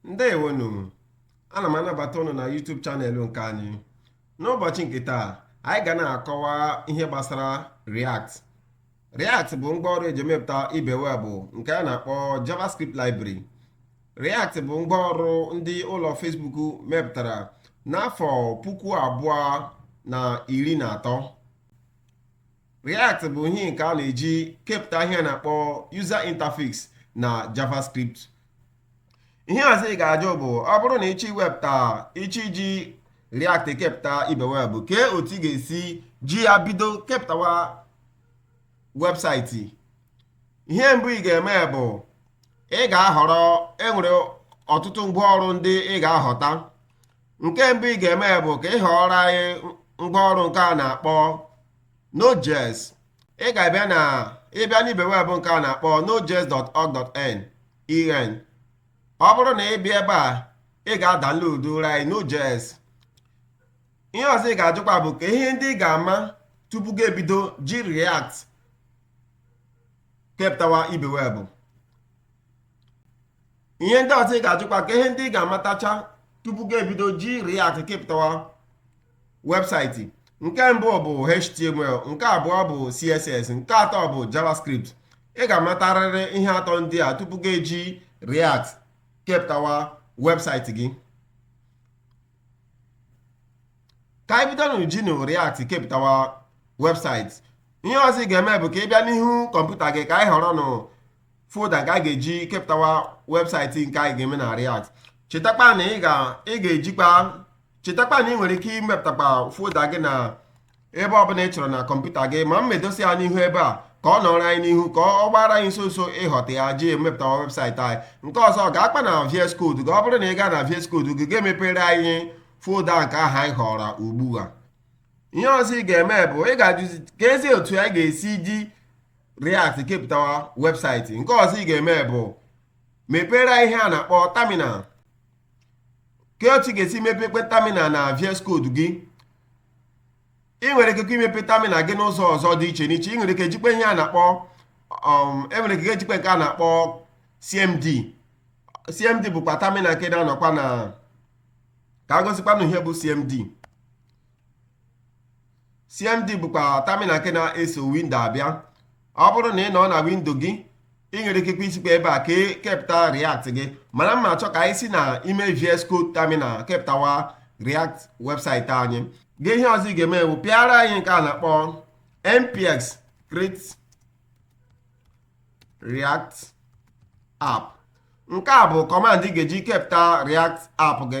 ndewonu ana m anabata ụnụ na YouTube chanel nke anyị n'ụbọchị nke taa anyị ga na-akọwa ihe gbasara React React bụ ngwaọrụ eji emepụta ibe weebụ nke a na-akpọ JavaScript Library React bụ ngwaọrụ ndị ụlọ Facebook mepụtara n'afọ puku abụọ na iri na atọ React bụ ihe nke a na-eji kepụta ihe a na-akpọ user interface na JavaScript ihe ọzọ ị ga-ajụ bụ ọ bụrụ na ị chọọ iwepụta ị chọọ iji React kepụta ibe webụ kee otu ị ga-esi ji ya bido kepụtawa webụsaịtị ihe mbụ ị ga-eme bụ ị ga-ahọrọ e nwere ọtụtụ ngwaọrụ ndị ị ga-ahọta nke mbụ ị ga-eme bụ ka ị họrọ anyị ngwaọrụ nke a na-akpọ Node.js ị ga-abịa na ịbịa n'ibe weebụ nke a na-akpọ nodejs.org.n en ọ bụrụ na ị bịa ebe a ị ga-adaunloadrụ anyị Node.js ihe ọzọ ị ga-ajụkwa bụ kee ihe ndị ị ga-ama tupu gị ebido ji React kepụtawa ibe weebụ ihe ndị ọzọ ị ga-ajụkwa kee ihe ndị ị ga-amatacha tupu gị ebido ji React kepụtawa webụsaịtị nke mbụ bụ HTML nke abụọ bụ CSS nke atọ bụ JavaScript ị ga-amatarịrị ihe atọ ndị a tupu gị eji React kepụtawa webụsaịtị gị ka anyị bidonụ jinụ React kepụtawa webụsaịtị ihe ọzọ ị ga-eme bụ ka ị bịa n'ihu kọmputa gị ka anyị họrọ nụ folda nke a ga-eji kepụtawa webụsaịtị nke anyị ga-eme na React chetakwa na ị ga-ejikwa chetakwa na ị nwere ike imepụtakwa folda gị na ebe ọbụla ị chọrọ na kọmputa gị ma m edosi ya n'ihu ebe a ka ọ nọrọ anyị n'ihu ka ọ gbara anyị ọsọ ọsọ ịhọta ya ji emepụta webụsaịtị anyị nke ọzọ gaakwa na VS Code gị ọ bụrụ na ị gaa na VS Code gị gaa mepere anyị folda nke ahụ anyị họrọ ugbu a ihe ọzọ ị ga-eme bụ ị ga-ajụzi keezi otu anyị ga-esi ji React kepụtawa webụsaịtị nke ọzọ ị ga-eme bụ mepere ihe a na-akpọ terminal kee otu ị ga-esi mepekwa terminal na VS Code gị ị nwere ike imepe tamina gị n'ụzọ ọzọ dị iche n'iche ị nwere ike jikwa ihe a na-akpọ um, ị nwere ike jikwa nke a na-akpọ CMD CMD bụkwa tamina nke na-anọkwa na ka a gosikwanụ ihe bụ CMD CMD bụkwa tamina nke na-eso windo abịa ọ bụrụ na ị nọ na windo gị ị nwere ikekwa isikwa ebe a ka e kepụta React gị mana m na-achọ ka anyị si na ime VS Code tamina kepụtawa React webụsaịtị anyị gị ihe ọzọ ị ga-eme bụ pịara anyị nke a na-akpọ npx create React app nke a bụ kọmand ị ga-eji kepụta React app gị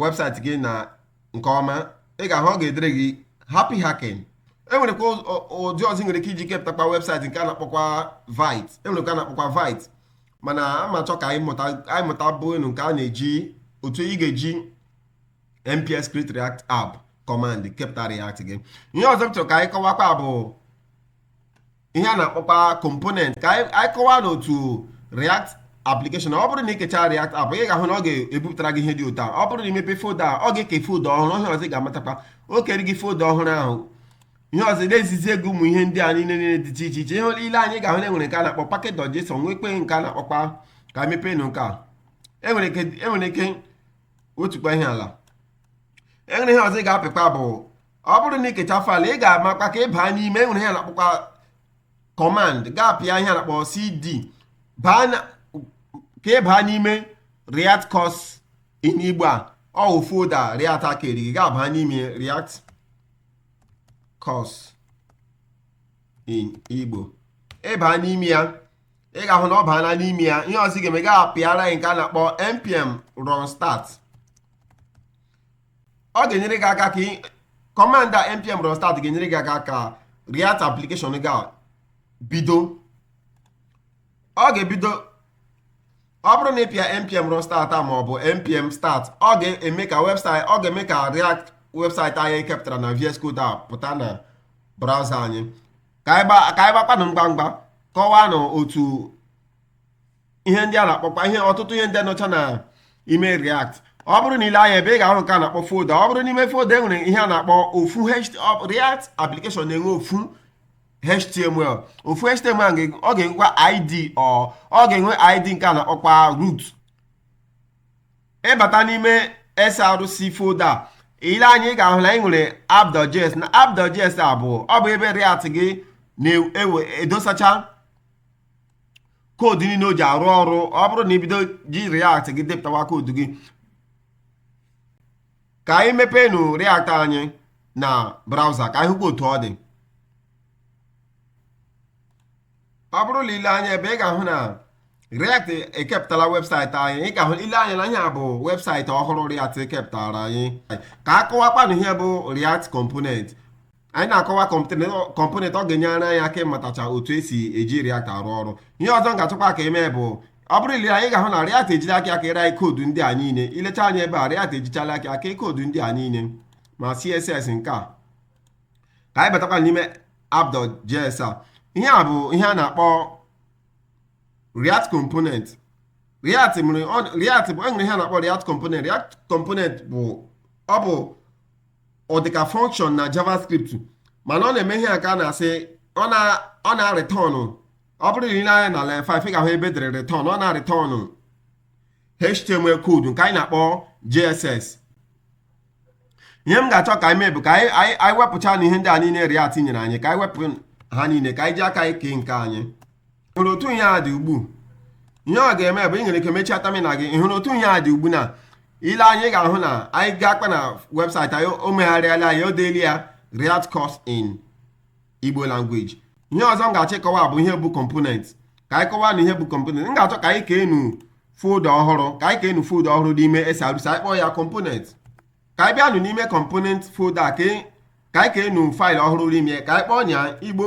webụsaịtị gị na nke ọma ị ga-ahụ ọ ga-edere gị happy hacking enwerekwa ụdị ọzọ ị nwere ike iji kepụtakwa webụsaịtị nke a na-akpọkwa Vite enwerekwa a na-akpọkwa Vite mana m na-achọ ka anyị mụta bụ enu nke a na-eji otu ị ga-eji npx create react app command kepụta react gị ihe ọzọ m chọrọ ka anyị kọwakwa bụ ihe a na-akpọkwa component ka anyị kọwaa nụ otu react application ọ bụrụ na ị kechaa react app ị ga-ahụ na ọ ga-ebupụtara gị ihe dị otu a ọ bụrụ na ị mepee foda ọ ga-eke foda ọhụrụ ihe ọzọ ị ga-amatakwa o kere gị foda ọhụrụ ahụ ihe ọzọ na-ezizi gị ụmụ ihe ndị a niile niile dị iche iche iche ihe ị lee anya ị ga-ahụ na enwere nke a na-akpọ package.json nweekwa nke a na-akpọkwa ka m mepee nụ nke a enwere e ike wetukwa ihe ala enwere ihe ọzọ ị ga-apịkwa bụ ọ bụrụ na ị kechaa faịlụ ị ga-amakwa ka ị baa n'ime enwere ihe a na-akpọkwa kọmand ị ga-apịa ihe a na-akpọ cd ka ị baa n'ime react course in igbo a ọ wụ folda react a e kere ị ga-aba n'ime react course in igbo ị baa n'ime ya ị ga-ahụ na ọ baala n'ime ya ihe ọzọ ị ga-eme ị ga-apịara nke a na-akpọ npm run start ọ ga-enyere gị aka ka kọmand a npm run start ga-enyere gị aka ka React application gị a bido ọ ga-ebido ọ bụrụ na ị pịa npm run start a maọbụ npm start ọ ga-eme ka webụsaịtị ọ ga-eme ka React webụsaịtị anyị kepụtara na VS Code a pụta na browser anyị ka anyị gbakwanụ ngwa ngwa kọwaa nụ otu ihe ndị a na-akpọkwa ihe ọtụtụ ihe ndị nọcha na ime react ọ bụrụ na ị lee anya ebe a ị ga-ahụ nke a na-akpọ folda ọ bụrụ n'ime folda e nwere ihe a na-akpọ ofu react application na-enwe ofu html ofu html ọ ga-enwekwa id ọ ga-enwe id nke a na-akpọkwa root ị bata n'ime src folda ị lee anya ị ga-ahụ na anyị nwere app.js na app.js a bụ ọ bụ ebe react gị na-edosacha e koodu niile o ji arụ ọrụ ọ bụrụ na i bido ji React gị depụtawa koodu gị ka anyị mepeenụ React anyị na browser ka anyị hụkwa otu ọ dị ọ bụrụ na i lee anya ebe ị ga-ahụ na React ekepụtala website anyị ị ga-ahụ i lee anya na ihe a bụ website ọhụrụ React kepụtaara anyị ka a kọwakwanụ ihe bụ React component anyị na-akọwa component ọ ga-enyere anyị aka ịmatacha otu e si eji React arụ ọrụ ihe ọzọ m ga-achọkwa ka e mee bụ ọ bụrụ i lee anya ị ga-ahụ na React ejiri aka ya keere anyị koodu ndị a niile i lechaa anya ebe a React ejichala aka ya kee koodu ndị a niile ma CSS nke a ka anyị batakwa n'ime app.js a ihe a bụ ihe a na-akpọ React component React bụ e nwere ihe a na-akpọ React component React component bụ ọ bụ ọ dịka function na javascript mana ọ na-eme ihe a ka a na-asị ọ na-return ọ bụrụ na i lee anya na line 5 ị ga-ahụ ebe e dere return ọ na-return html code nke anyị na-akpọ jsx ihe m ga-achọ ka anyị mee bụ ka anyị wepụchanụ ihe ndị a niile React nyere anyị ka anyị wepụ ha niile ka anyị ji aka anyị kee nke anyị hụrụ otu ihe a dị ugbu ihe ọ ga-eme bụ ị nwere ike mechie terminal gị ị hụrụ otu ihe a dị ugbu na i lee anya ị ga-ahụ na anyị gakwaa na website anyị o megharịala ya o deela ya React course in Igbo language ihe ọzọ m ga-achọ ịkọwa bụ ihe bụ component ka anyị kọwaanụ ihe bụ component m ga-achọ ka anyị keenụ folder ọhụrụ ka anyị keenụ folder ọhụrụ n'ime SRC anyị kpọọ ya component ka anyị bịanụ n'ime component folder ka anyị keenụ file ọhụrụ n'ime ka anyị kpọọ ya Igbo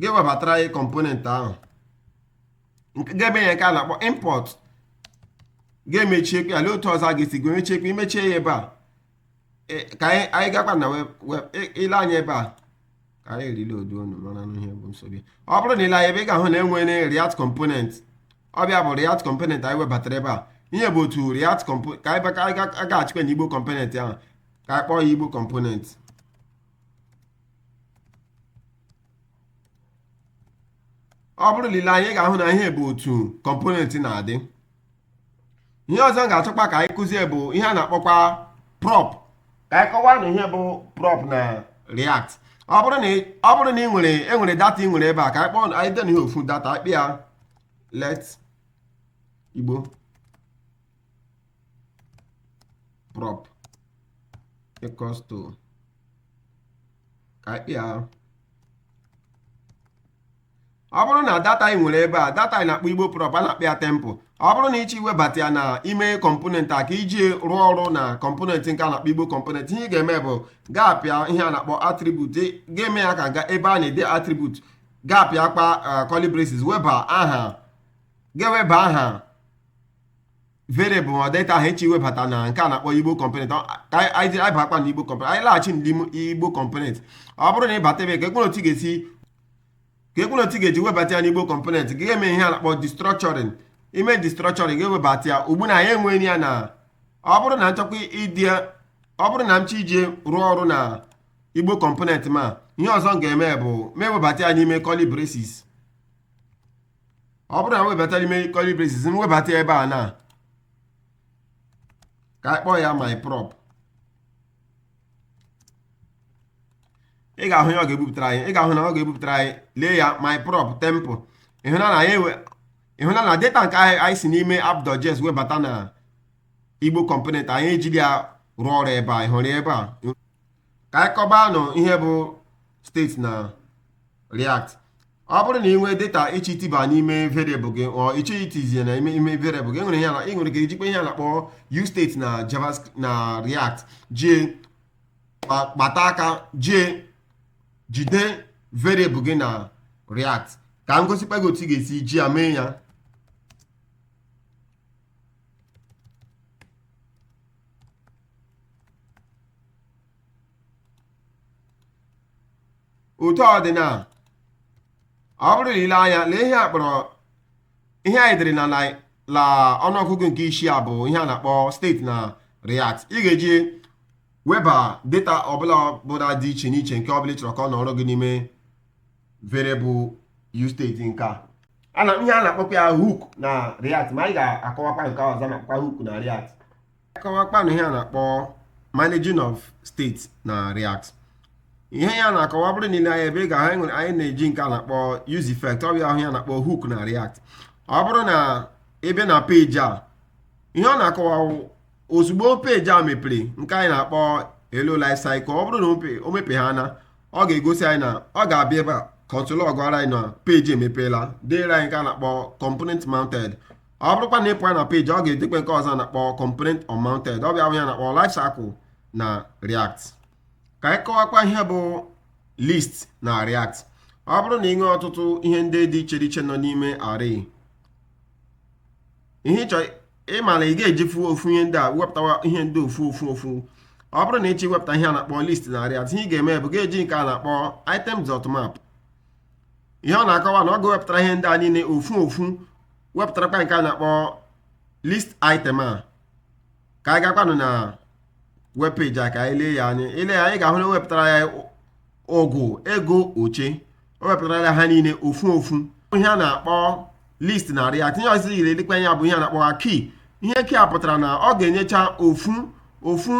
ga-ewebatara anyị component ahụ nke ga-eme ya nke a na-akpọ import ga-emechiekwa ya lee otu ọzọ a ga-esi gwe mechiekwa i mechie ya ebe a e, ka anyị anyị gakwa na web web i- i lee anya ebe a ka anyị re- reloadụọnụ maranụ ihe bụ nsogbu ya. ọ bụrụ na i lee anya ebe ị ga-ahụ na e nwere react component ọ bụ ya bụ react component anyị webatara ebe a ihe bụ otu react component ka anyị bịa- ka anyị ga- gaghachikwa na igbo component ahụ ka anyị kpọọ ya igbo component ọ bụrụ na i lee anya ị ga-ahụ na ihe bụ otu component na-adị ihe ọzọ m ga-achọkwa ka anyị kụzie bụ ihe a na-akpọkwa prop ka anyị kọwaanụ ihe bụ prop na react ọ bụrụ na ị- ọ bụrụ na ị nwere e nwere data ị nwere ebe a ka anyị kpọọ na- anyị deenụ ihe ofu data anyị kpọọ ya let igbo prop equals to ka anyị kpịa arụ ọ bụrụ na data ị nwere ebe a data ị na-akpọ igbo prop a na-akpọ ya temp ọ bụrụ na ị chọọ iwebata ya na ime kọmponent a ka iji rụọ ọrụ na kọmponent nke a na-akpọ igbo kọmponent ihe ị ga-eme bụ ị ga-apịa ihe a na-akpọ atribut ị ga-eme ya ka ebe a na-ede atribut ị ga-apịakwa curly braces weba aha ị ga-eweba aha variable ma data ahụ ịchọ iwebata na nke a na-akpọ igbo component anyị bakwa na igbo component anyị laghachi n'ime igbo component ọ bụrụ na ị bata ebe ka ekpere otu ị ga-esi ka ekpere otu ị ga-eji webata ya n'igbo component ị ga-eme ihe a na-akpọ destructuring i mee destructuring ị ga-ewebata ya ugbu na anyị enweghị ya na ọ bụrụ na m chọkwa iji ọ bụrụ na m chọ iji rụọ ọrụ na igbo component ma ihe ọzọ m ga-eme bụ m ewebata ya n'ime curly braces ọ bụrụ na m webata ya n'ime curly braces m webata ya ebe a na ka anyị kpọọ ya my prop ị ga-ahụ ya ọ ga-ebupụtara anyị ị ga-ahụ na ọ ga-ebupụtara anyị lee ya my prop temp ịhụna na anyị enwe ịhụna na data nke anyị anyị si n'ime app.js webata na igbo kọmponent anyị ejiri ya rụọ ọrụ ebe a ị hụrụ ya ebe a ka anyị kọbanụ ihe bụ state na react ọ bụrụ na ị nwee data ịchọ itiba n'ime variable gị or ịchọ itizie na ime ime variable gị enwere ihe ị nwere ike ijikwa ihe a na-akpọ use state na javascript na react jie kpata aka jie jide variable gị na react ka m gosikwa gị otu ị ga-esi ji ya mee ya otu ọ dị na ọ bụrụ na i lee anya na ihe a kpọrọ ihe anyị dere na line ọnụọgụgụ nke isii a bụ ihe a na-akpọ state na React ị ga-eji weba data ọbụla bụla dị iche n'iche nke ọbụla ị chọrọ ka ọ nọrọ gị n'ime variable use state nke a ana ihe a na-akpọkwa ya hook na react ma anyị ga-akọwakwa nke ọzọ a na-akpọkwa hook na react ka anyị kọwakwanụ ihe a na-akpọ managing of state na react ihe ya na-akọwa ọ bụrụ na i lee anya ebe a ị ga-ahụ na anyị nwere anyị na-eji nke a na-akpọ use effect ọ bụ ya anyị na-akpọ hook na react ọ bụrụ na ị bịa na peji a ihe ọ na-akọwa ozugbo peji a mepere nke anyị na-akpọ elu life cycle ọ bụrụ na o mepe ha na ọ ga-egosi anyị na ọ ga-abịa ebe a console log gwara anyị na peji emepeela deere anyị nke a na-akpọ component mounted ọ bụrụkwa na ị pụọ na peji ọ ga-edekwa nke ọzọ a na-akpọ component unmounted ọ bụ ya anyị na-akpọ life cycle na react ka anyị kọwakwa ihe bụ list na react ọ bụrụ na ị nwee ọtụtụ ihe ndị dị iche iche nọ n'ime array ihe ịchọ ịma na ị ga-ejifu ofu ihe ndị a wepụtawa ihe ndị ofu ofu ofu ọ bụrụ na ịchọ iwepụta ihe a na-akpọ list na React ihe ị ga-eme bụ ga-eji nke a na-akpọ item dot map ihe ọ na-akọwa na ọ ga-ewepụtara ihe ndị a niile ofu ofu wepụtarakwa nke a na-akpọ list item a ka anyị gakwanụ na web page a ka anyị lee ya anya ile ya anya ị ga-ahụ na e wepụtara ya ụgụ ego oche o wepụtara ya ha niile ofu ofu ihe a na-akpọ list na React ihe ọzọ yiri elekwa ya bụ ihe a na-akpọ ha key ihe key a pụtara na ọ ga-enyecha ofu ofu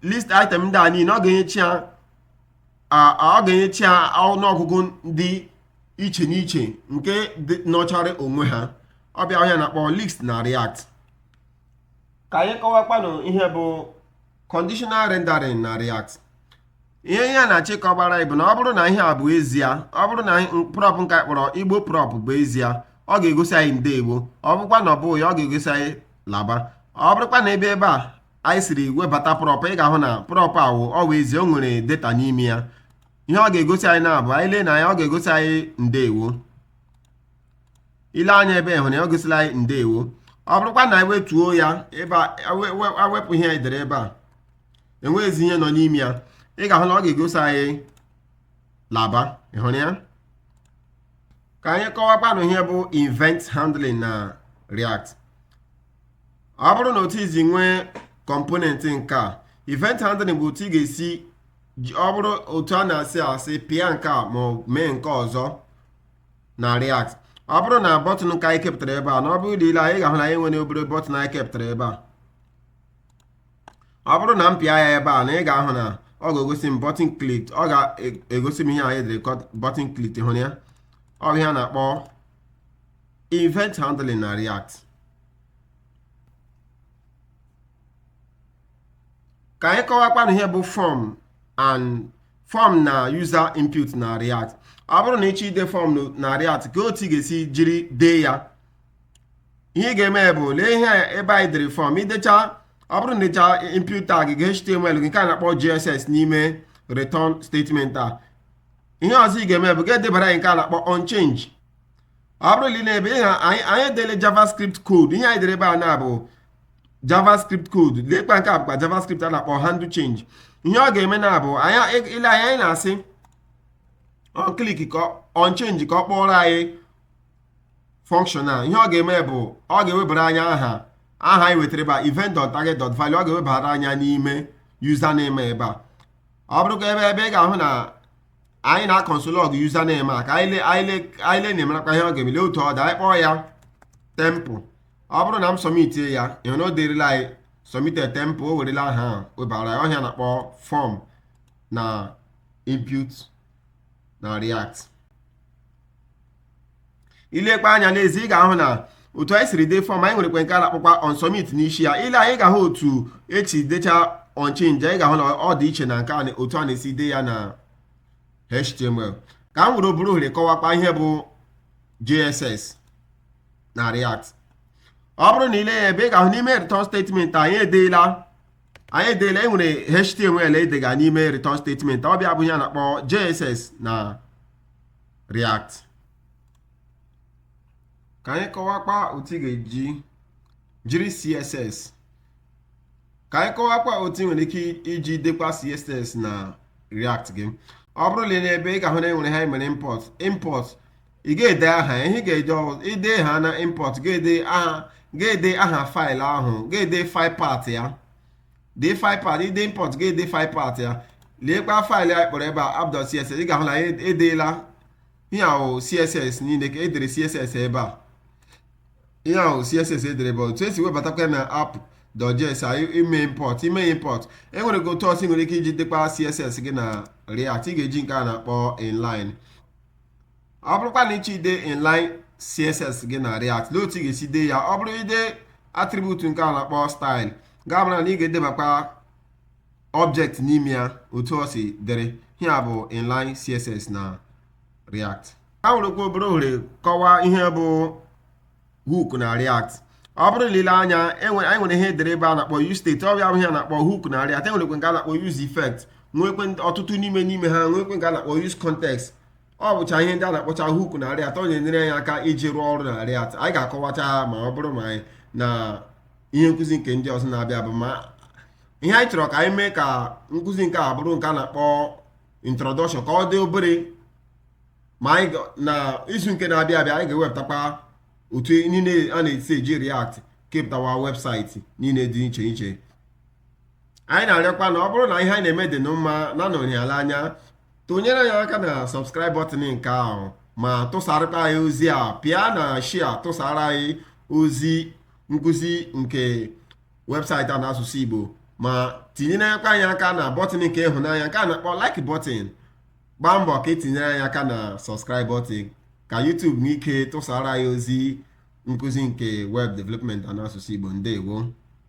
list item ndị a niile ọ ga-enyecha ya ọ ga-enyecha ya ọnụọgụgụ dị iche n'iche nke nọchara onwe ha ọ bụ ya bụ ihe a na-akpọ list na react ka anyị kọwakwanụ ihe bụ conditional rendering na React ihe ihe a na-achọ ịkọgbara anyị bụ na ọ bụrụ na ihe a bụ ezie ọ bụrụ na prop nke a kpọrọ igbo prop bụ ezie ọ ga-egosi anyị ndewo ọ bụrụkwa na ọ bụghị ya ọ ga-egosi anyị laba ọ bụrụkwa na ebe ebe a anyị siri webata prop ị ga-ahụ na prop a wụ ọ bụ ezie o nwere data n'ime ya ihe ọ ga-egosi anyị na-abụ anyị lee anya ọ ga-egosi anyị ndewo ile anya ebe ị hụrụ ya ọ gosila anyị ndewo ọ bụrụkwa na anyị wetuo ya ebe a we- we- awepụ ihe anyị dere ebe a enweghịzi ihe nọ n'ime ya ị ga-ahụ na ọ ga-egosi anyị laba ị hụrụ ya ka anyị kọwakwanụ ihe bụ event handling na react ọ bụrụ na otu i si nwee component nke a event handling bụ otu ị ga-esi ji- ọ bụrụ otu a na-asị asị pịa nke a ma ọ mee nke ọzọ na React ọ bụrụ na button nke anyị kepụtara ebe a na ọ bụrụ ile anya ị ga-ahụ na anyị nwere obere button anyị kepụtara ebe a ọ bụrụ na m pịa ya ebe a na ị ga-ahụ na ọ ga-egosi m button clicked ọ ga-egosi m ihe anyị dere button clicked ị hụrụ ya ọ bụ ihe a na-akpọ event handling na react ka anyị kọwakwanụ ihe bụ form and form na user input na React ọ bụrụ na ịchọ ide form na React ka otu ị ga-esi jiri dee ya ihe ị ga-eme bụ lee ihe ebe anyị dere form idecha ọ bụrụ na idecha input tag gị HTML nke a na-akpọ JSX n'ime return statement a ihe ọzọ ị ga-eme bụ ga-edebara anyị nke a na-akpọ on change ọ bụrụ na ị lee n'ebe a anyị edele JavaScript code ihe anyị dere ebe a na-abụ javascript code lekwa nke a bụkwa javascript a na-akpọ handle change ihe ọ ga-eme na-abụ anyị ile anya anyị na-asị on click ka on change ka ọ kpọrọ anyị function a ihe ọ ga-eme bụ ọ ga-ewebara anyị aha aha anyị wetara ebe a event dot target dot value ọ ga-ewebara anyị ya n'ime username ebe a ọ bụrụkwa ebe ebe ị ga-ahụ na anyị na-aconsole log username a ka anyị le na-emerakwa ihe ọ ga-eme lee otu ọ dị anyị kpọọ ya temple ọ bụrụ na m sọmitie ya ịhụ na o derila anyị submitted temp o werela aha ahụ webara ya ọ ihe a na-akpọ fọm na input na react ilekwa anya n'ezi ị ga-ahụ na otu anyị siri dee fọm anyị nwerekwe nke a na-akpọkwa on submit n'isi ya ile anya ị ga-ahụ otu esi decha on change anyị ga-ahụ na ọ dị iche na nke otu a na-esi dee ya na html ka m were obere ohere kọwakwa ihe bụ jsx na react ọ bụrụ na ile ya ebe a ị ga-ahụ n'ime return statement anyị edeela anyị edeela e nwere html edega n'ime return statement ọ bụ ya bụ ihe a na-akpọ jsx na react ka anyị kọwakwa otu ị ga-eji jiri css ka anyị kọwakwa otu ị nwere ike iji dekwa css na react gị ọ bụrụ na ebe a ị ga-ahụ na enwere ihe emere import import ị ga-ede aha ya ihe ị ga-eje ọzọ ide ha na import ga-ede aha ga-ede aha faịlụ ahụ ga-ede faịl path ya dee faịl path ide import ga-ede faịl path ya leekwa faịlụ a kpọrọ ebe a app.css ị ga-ahụ na ya edeela ihe ahụ css niile ka edere css ebe a ihe ahụ css edere bụ otu esi webatakwa na app.js ime import ime import enwerekwa otu ọzọ ị nwere ike iji dekwa css gị na react ị ga-eji nke a na-akpọ inline ọ bụrụkwa na ịchọ ide inline css gị na react lee otu ị ga-esi dee ya ọ bụrụ ide atribut nke a na-akpọ style ị ga-amara na ị ga-edebakwa object n'ime ya otu ọ si dịrị ihe a bụ inline css na react ka m werekwa obere ohere kọwaa ihe bụ hook na react ọ bụrụ na ile anya anyị nwere ihe edere ebe a na-akpọ use state ọ bụ ya bụ ihe a na-akpọ hook na react e nwerekwe nke a na-akpọ use effect nwekwe ọtụtụ n'ime n'ime ha nwekwe nke a na-akpọ use context ọ bụcha ihe ndị a na-akpọcha hook na react ọ na-enyere anyị aka iji rụọ ọrụ na react anyị ga-akọwacha ha ma ọ bụrụ ma anyị na ihe nkụzi nke ndị ọzọ na-abịa bụ ma ihe anyị chọrọ ka anyị mee ka nkụzi nke a bụrụ nke a na-akpọ introduction ka ọ dị obere ma anyị ga- na izu nke na-abịa abịa anyị ga-ewepụtakwa otu niile a na-esi eji react kepụtawa webụsaịtị niile dị iche iche anyị na-arịọkwa na ọ bụrụ na ihe anyị na-eme dị unu mma na nọnyala anya tinyere anyị aka na subscribe button nke ahụ ma tụsarakwa anyị ozi a pịa na share tụsara anyị ozi nkụzi nke webụsaịtị a n'asụsụ Igbo ma tinyere anyị aka na bọtịn nke ịhụnanya nke a na-akpọ like bọtịn gbaa mbọ ka i tinyere anyị aka na subscribe button ka YouTube nwee ike tụsara anyị ozi nkụzi nke web development na asụsụ Igbo ndewo